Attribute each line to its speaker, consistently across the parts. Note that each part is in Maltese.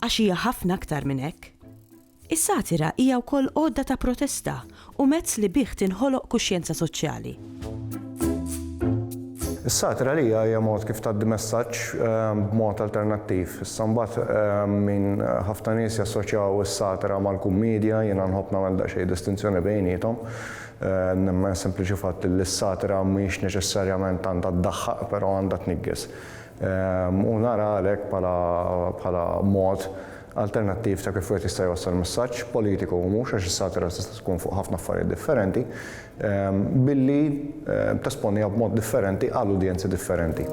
Speaker 1: Għax hija ħafna aktar minn hekk. Is-satira hija wkoll għodda ta' protesta u mezz li bih tinħoloq kuxjenza soċjali.
Speaker 2: Is-satira għalija hija mod kif tgħaddi messaġġ ehm, b'mod alternattiv. Issa mbagħad ehm, min ħafna nies jassoċjaw is-satira mal-kummedja, jiena nħobb nagħmel daqsxejn distinzjoni bejnietom. Ehm, nemmen sempliċi fatt li s-satira mhix neċessarjament għandha ddaħħaq, però għandha tniggis. u nara għalhekk bħala mod alternattiv ta' kif wieħed jista' jwassal messaġġ, politiku u mhux għax is-satira tista' tkun fuq ħafna affarijiet differenti, billi tesponiha b'mod differenti għal udjenzi differenti.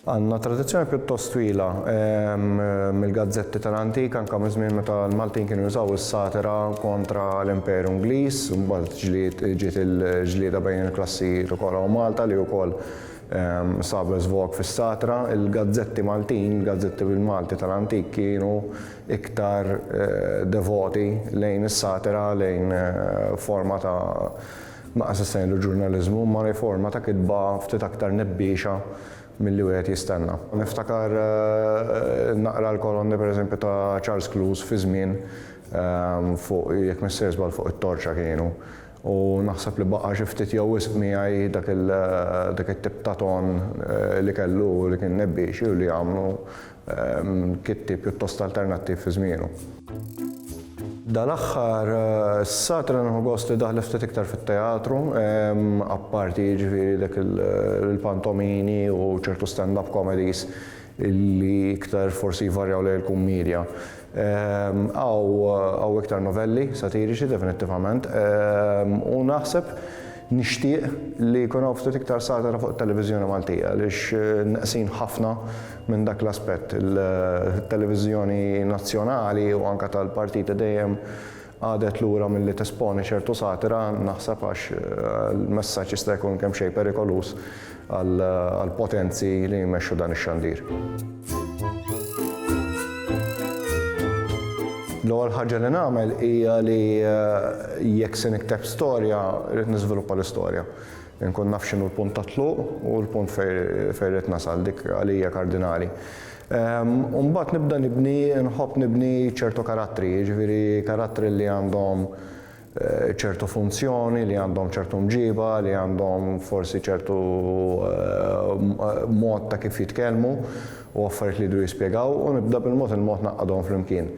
Speaker 2: Għandna tradizzjoni pjuttost twila mill-gazzetti tal-antik anke miż-żmien meta l-Maltin kienu jużaw is-satira kontra l-Imperu Ingliż, Ġlied ġiet il-ġlieda bejn il-klassijiet u Kora u Malta li wkoll sabu żvog fis-satra. Il-gazzetti Maltin, il-gazzetti bil-Malti tal-antik kienu iktar devoti lejn is-satira, lejn forma ta' ma qas issejħlu ġurnaliżmu, imma lejn forma ta' kitba ftit aktar nebbiexa milli wieħed jistenna. Niftakar naqra l-kolonni pereżempju ta' Charles Clouse fi żmien Fuq, jekk m'se jiżball fuq it-torċa kienu. U naħseb li baqa' xi ftit jew wisq miegħi dak il, dak it-tip ta' ton li kellu u li kien nebbiexi u li jagħmlu kittieb pjuttost alternattiv fi żmienu. Dal-aħħar, issa, trid nieħu gost li daħlet ftit iktar fit-teatru, apparti, jiġifieri, dak il, il-pantomini u ċertu stand-up comedies li iktar forsi jvarjaw lejn il-kummiedja. Hawn iktar novelli satiriċi definittivament u naħseb nixtieq li jkun hawn ftit iktar satira fuq it-televiżjoni Maltija għaliex neqsin ħafna minn dak l-aspett. Il-televiżjoni nazzjonali u anke tal-partiti dejjem Qagħdet lura milli tesponi ċertu satira, naħseb għax l-messaġġ jista' jkun kemm xejn perikoluż għall-potenzi li jmexxu dan ix-xandir. L-ewwel ħaġa li nagħmel hija li jekk se nikteb storja, rrid niżviluppa l-istorja. Inkun naf x'inhu l-punt tat-tluq u l-punt fejn rrid nasal, dik għalija kardinali. U mbagħad nibda nibni, nħobb nibni ċertu karattri, jiġifieri karattri li għandhom ċertu funzjoni, li għandhom ċertu mġiba, li għandhom forsi ċertu mod ta' kif jitkellmu u affarijiet li jridu jispjegaw u nibda bil-mod il-mod ngħaqqadhom flimkien.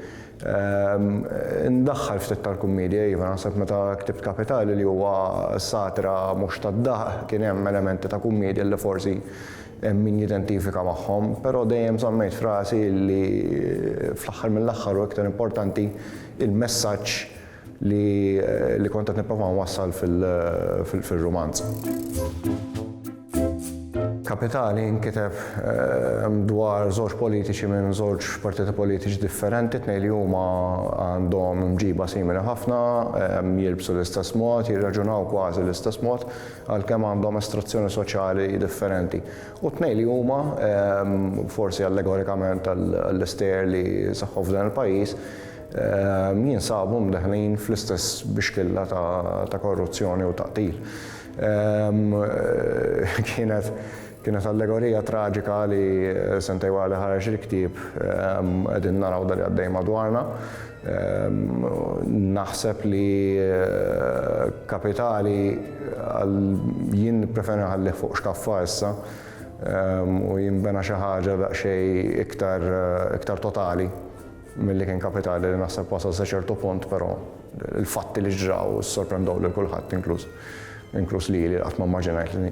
Speaker 2: Indaħħal ftit tal-kummiedja, iva, naħseb meta ktibt Kapitali li huwa satira mhux tad-daħq kien hemm elementi ta' kummiedja li forsi hemm min jidentifika magħhom, però dejjem żammejt f'rasi li fl-aħħar mill-aħħar u iktar importanti il-messaġġ li li kont qed nipprova nwassal fil-rumanz. Kapitali nkiteb dwar żewġ politiċi minn żewġ partiti politiċi differenti, tnej li huma għandhom mġiba simili ħafna, jilbsu l-istess mod, jirraġunaw kważi l-istess mod, għalkemm għandhom estrazzjoni soċjali differenti, u t-tnejn li huma, forsi allegorikament għall-isteer li seħħu f'dan il-pajjiż, jinsabu mdaħħlin fl-istess bixkilla ta' korruzzjoni u ta' qtil. Kienet allegorija traġika li sentejn wara li ħareġ il-ktieb qegħdin naraw dan li għaddej madwarna. Naħseb li kapitali għal jien nippreferi nħallih fuq xkaffa issa u jinbena xi ħaġa daqsxejn iktar iktar totali milli kien kapitali li naħseb wasal sa ċertu punt però l-fatti li ġraw sorprendow lil kulħadd inkluż inkluż lili li qatt ma mmaġinajt li